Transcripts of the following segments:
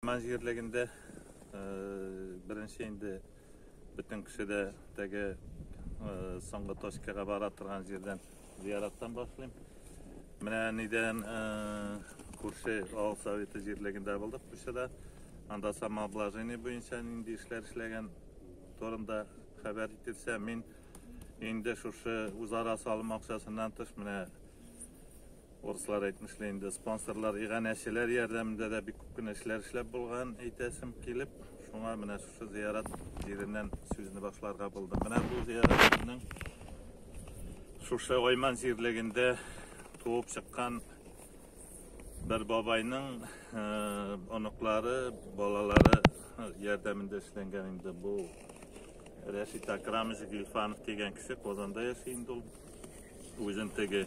Ман җирлегендә э, беренче инде бөтен кеше дә теге э, соңгы точкага бара торган җирдән зияраттан башлыйм. Менә нидән э, күрше авыл советы җирлегендә булдык Пушада. Анда самообложение буенча нинди эшләр эшләгән турында хәбәр ителсә, мин инде шушы үзара салым акчасыннан тыш менә Урыслар әйтмешли инде, спонсорлар, иганәчеләр ярдәмендә дә бик күп кенә эшләр эшләп булган, әйтәсем килеп, шуңа менә шушы зыярат җиреннән сүзне башларга булдым. Менә бу зыярат безнең шушы Айман җирлегендә туып чыккан бер бабайның э, оныклары, балалары ярдәмендә эшләнгән инде бу Рәшит Акрамович Гильфанов дигән кеше Казанда яши инде ул. Үзен теге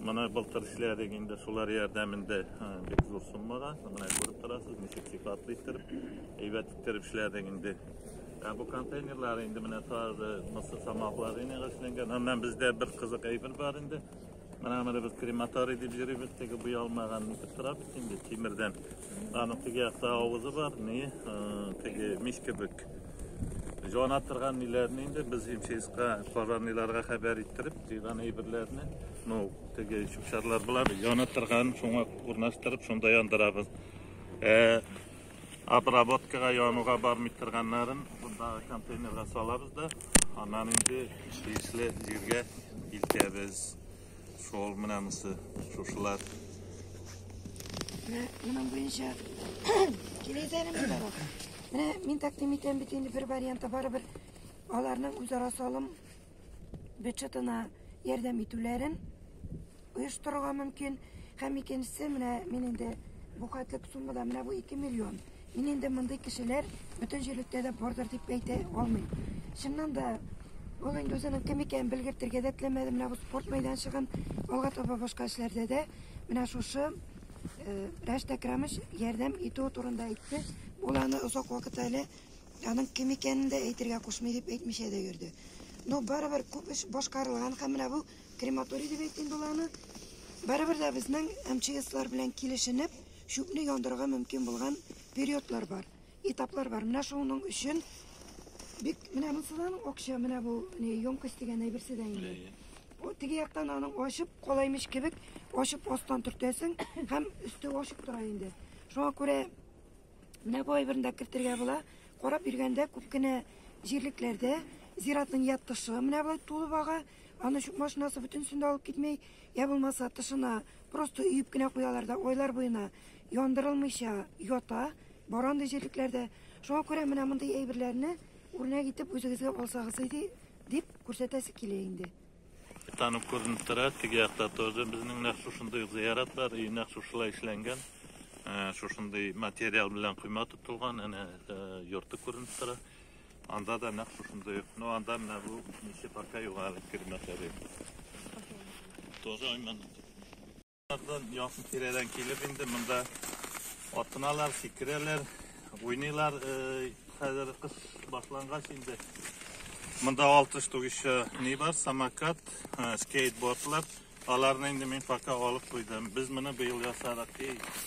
Менә былтыр эшләдек инде, шулар ярдәмендә бик зур суммага. Менә күреп торасыз, ничек сыйфатлы иттереп, әйбәт иттереп эшләдек инде. Ә бу контейнерлар инде менә тагы мысы самаклар ине эшләнгән. Аннан бездә бер кызык әйбер бар инде. Менә менә без крематорий дип йөрибез, теге буй алмаган итеп торабыз инде тимердән. Аның теге якта авызы бар, ни, теге мич кебек. Җана торган ниләрне инде без имческа, пожарныйларга хәбәр иттереп, Тыйган әйберләрне, ну, теге чүпчарлар булар, яна торган, шуңа урнаштырып, шунда яндырабыз. Э, обработкага януга бармый торганнарын бунда контейнерга салабыз да, аннан инде тиешле җиргә илтәбез. Шул менә монысы, шушылар. Менә моның буенча киләйтәне монда бар. Менә мин тәкъдим итәм бит инде бер варианты барыбер аларның үзара салым бюджетына ярдәм итүләрен оештырырга мөмкин. Һәм икенчесе, менә мин инде бу хәтлек суммада, менә бу 2 миллион. Мин инде мондый кешеләр бөтен җирлектә дә бардыр дип әйтә алмыйм. Чыннан да ул инде үзенең кем икәнен белгертергә дә теләмәде. Менә бу спорт мәйданчыгын алга таба башка эшләрдә дә менә шушы э, Рәшт Әкрамович ярдәм итү турында әйтте. Ул аны озак вакыт әле Аның кем икәнен дә әйтергә кушмый дип әйтмичә дә йөрде. Ну, барыбер күп эш башкарылган һәм менә бу крематорий дип әйтим бул аны. Барыбер дә безнең МЧСлар белән килешенеп, чүпне яндырырга мөмкин булган периодлар бар, этаплар бар. Менә шуның өчен бик менә монсыдан акча, менә бу не емкость дигән әйберсе дә инде. О, теге яктан аның ачып калаймыш кебек, ачып астан төртәсең һәм өсте ачып тора инде. Шуңа күрә Менә бу әйберне дә кертергә була. Карап йөргәндә күп кенә җирлекләрдә зиратның я тышы менә болай тулып ага, аны чүп машинасы бөтенесен дә алып китми, я булмаса тышына просто өеп кенә куялар да айлар буена яндырылмыйча ята бар андый җирлекләрдә. Шуңа күрә менә мондый әйберләрне үрнәк итеп үзегезгә алсагыз иде дип күрсәтәсе килә инде. Танып күренеп тора, теге якта тоже безнең нәкъ шушындый ук зыярат бар, и нәкъ шушылай эшләнгән. Ә, Шушындый материал белән койма тотылган, әнә ә, йорты күренеп тора. Анда да нәкъ шушындый ук. Ну, анда менә бу ничек пока юк әле кермәкләре. Тоже айман. Якын тирәдән килеп инде монда атыналар, сикерәләр, уйныйлар. Хәзер кыш башлангач инде монда 6 штук еще ни бар, самокат, скейтбордлар. Аларны инде мин пока алып куйдым. Без моны быел ясадык.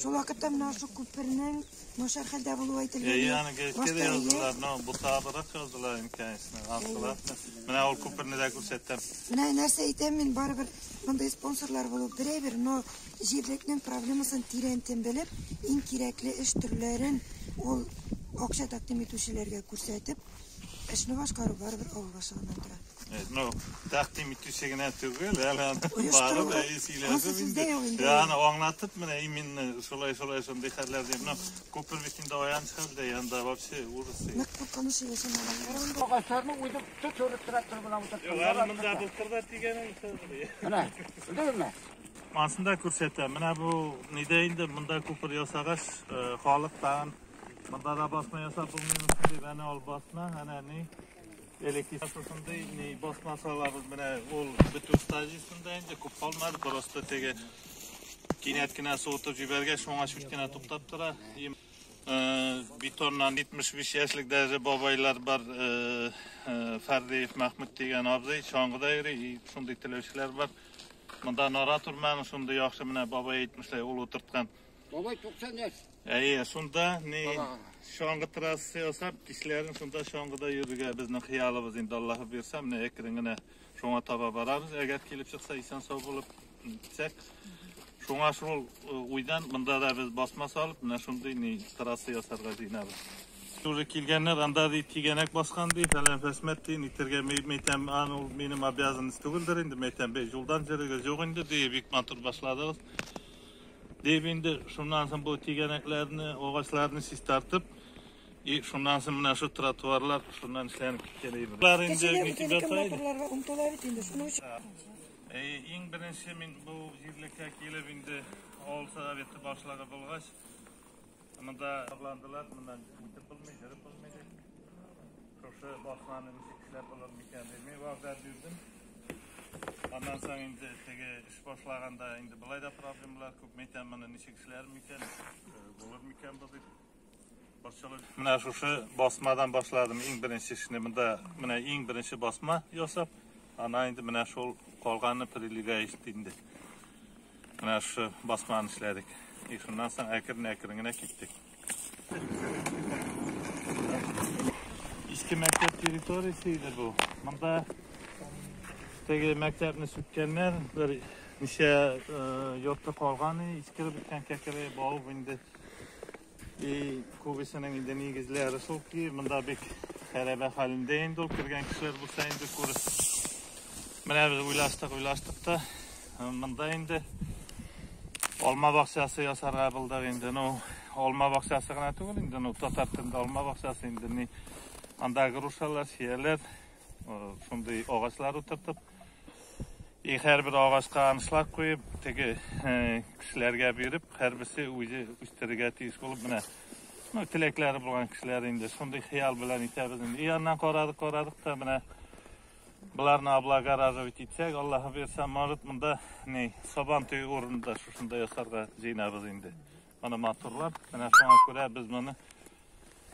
Шул вакытта менә шул күпернең начар хәлдә булуы әйтелгән. Әйе, аны гәзиткә дә яздылар, но бу табырак яздылар инде, конечно. Астылар. Менә ул күперне дә күрсәттем. Менә нәрсә әйтәм мин, барыбер мондый спонсорлар булу берәйбер, но җирлекнең проблемасын тирәнтен белеп, иң кирәкле эш төрләрен ул акча тәкъдим итүчеләргә күрсәтеп, Эшне башкару барыбер авыл башлыгыннан тора. Э, ну, тәкъдим итүче генә түгел, әле аны барып әйе сөйләшеп инде. Аны аңлатып менә именно шулай шулай шундый хәлләр дип. Ну, күпер бит инде аяныч хәлдә, янда вообще ужас. Нык куркыныч яшәмәгән. Агачларны уйдып төтөреп трактор белән утыртып. Югары монда былтыр да тигәнен сызды. Менә, белдеңме? Ансында күрсәтә. Менә бу нидә инде монда күпер ясагач, э, халык тагын Монда да басма ясап булмыймы дип, әнә ул басма, әнә ни электрик шушындый ни басма салабыз. Менә ул бетү стадиясендә инде күп калмады, просто теге кинәт кенә суытып җибәргәч, шуңа чуть кенә туктап тора. Бетоннан 75 яшьлек даже бабайлар бар, Фәрдиев Мәхмүт дигән абзый, чаңгыда йөри, шундый теләүчеләр бар. Монда нора турманы шундый яхшы, менә бабай әйтмешли, ул утырткан. Бабай 90 яшь. Әйе, шунда ни чаңгы трассы ясап, кичләрен шунда чаңгыда йөрергә безнең хыялыбыз инде Аллаһы бирсә, менә әкрен генә шуңа таба барабыз. Әгәр килеп чыкса, исән сау булып китсәк. Шуңа шул э, уйдан монда да без басма салып, менә шундый ни трасса ясарга җыенабыз. Шулы килгәннәр анда ди тигәнәк баскан ди, фәлән фәсмәт ди, нитергә мәйтәм, аны ул минем обязанность түгелдер инде, мәйтәм, бе юлдан җөрегез юк инде ди, бик матур башладыгыз. Дип инде шуннан соң бу тигәнәкләрне, агачларны чистартып, и шуннан соң менә шу тротуарлар шуннан эшләнеп киткән инде. Бар инде Кешеләр митинг үзенекен ята иде. матурларга омтыла бит инде, шуның өчен. Э, Иң беренче мин бу җирлеккә килеп инде авыл советы башлыгы булгач, монда шатландылар, моннан үтеп булмый, йөреп булмый дип. Шушы басманы ничек эшләп булыр микән дип мин вәгъдә бирдем. Аннан соң инде теге Башлаганда инде болай да проблемалар күп. Мәйтәм, моны ничек эшләр микән, булыр микән бу дип. Борчылып. Менә шушы басмадан башладым. Иң беренче эшне монда менә иң беренче басма ясап, ана инде менә шул калганны прилегающий инде. Менә шушы басманы эшләдек. И шуннан соң әкрен-әкрен генә киттек. Иске мәктәп территориясе иде бу. Монда теге мәктәпне сүткәннәр, бер ничә йорты калган, искереп беткән кәкере бавып инде. И күбесенең инде нигезләре шул ки, монда бик хәрәбә хәлендә инде ул кергән кешеләр булса инде күрер. Менә без уйлаштык, уйлаштык та Монда инде алма бакчасы ясарга булдык инде. Ну, алма бакчасы гына түгел инде, ну, татар телендә алма бакчасы инде. Ни, анда грушалар, чияләр, шундый агачлар утыртып, и һәрбер агачка анышлар куеп, теге э, кешеләргә биреп, һәрберсе үзе үстерергә тиеш булып менә ну, теләкләре булган кешеләр инде шундый хыял белән итәбез инде. И аннан карадык, карадык та менә Боларны облага радовать итсәк, Аллаһы бирсә, может, монда ни, сабан төй урынында шушында ясарга җыенабыз инде. Моны матурлап, менә шуңа күрә без моны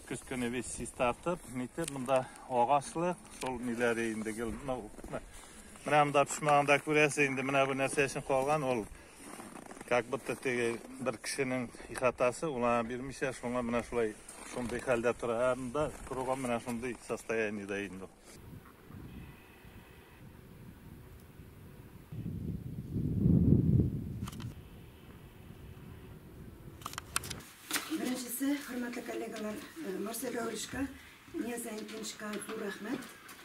көз көне весь чистартып, нитеп, монда агачлык, шул ниләре инде гел, ну, менә монда пешмаганда күрәсе инде, менә бу нәрсә өчен калган, ул как будто теге бер кешенең ихатасы, улана бирмичә, шуңа менә шулай, шундый хәлдә тора, ә монда кругом менә шундый состояниедә инде. Беренчесе, хөрмәтле коллегалар, э, Марсель Гаулишка, Неза Инкеншка зур рәхмәт.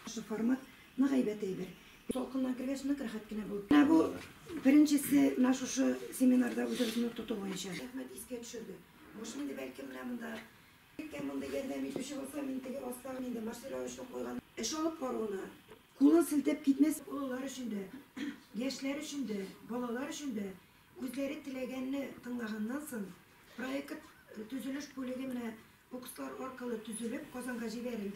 Шу формат нык әйбәт әйбер. Толкыннан кергәч нык рәхәт кенә булып. Ә бу беренчесе менә шушы семинарда үзебезне тоту буенча. Рәхмәт искә төшерде. Мошмиде бәлки менә монда Кем мондый ярдәм итүче булса, мин теге астагы инде мастера очлы куйган. Эш алып баруына кулын селтәп китмәс. Олылар өчен дә, яшьләр өчен дә, балалар өчен дә үзләре теләгәнне тыңлаганнан соң, проект төзелеш бүлеге менә укслар аркылы төзелеп Казанга җибәрелде.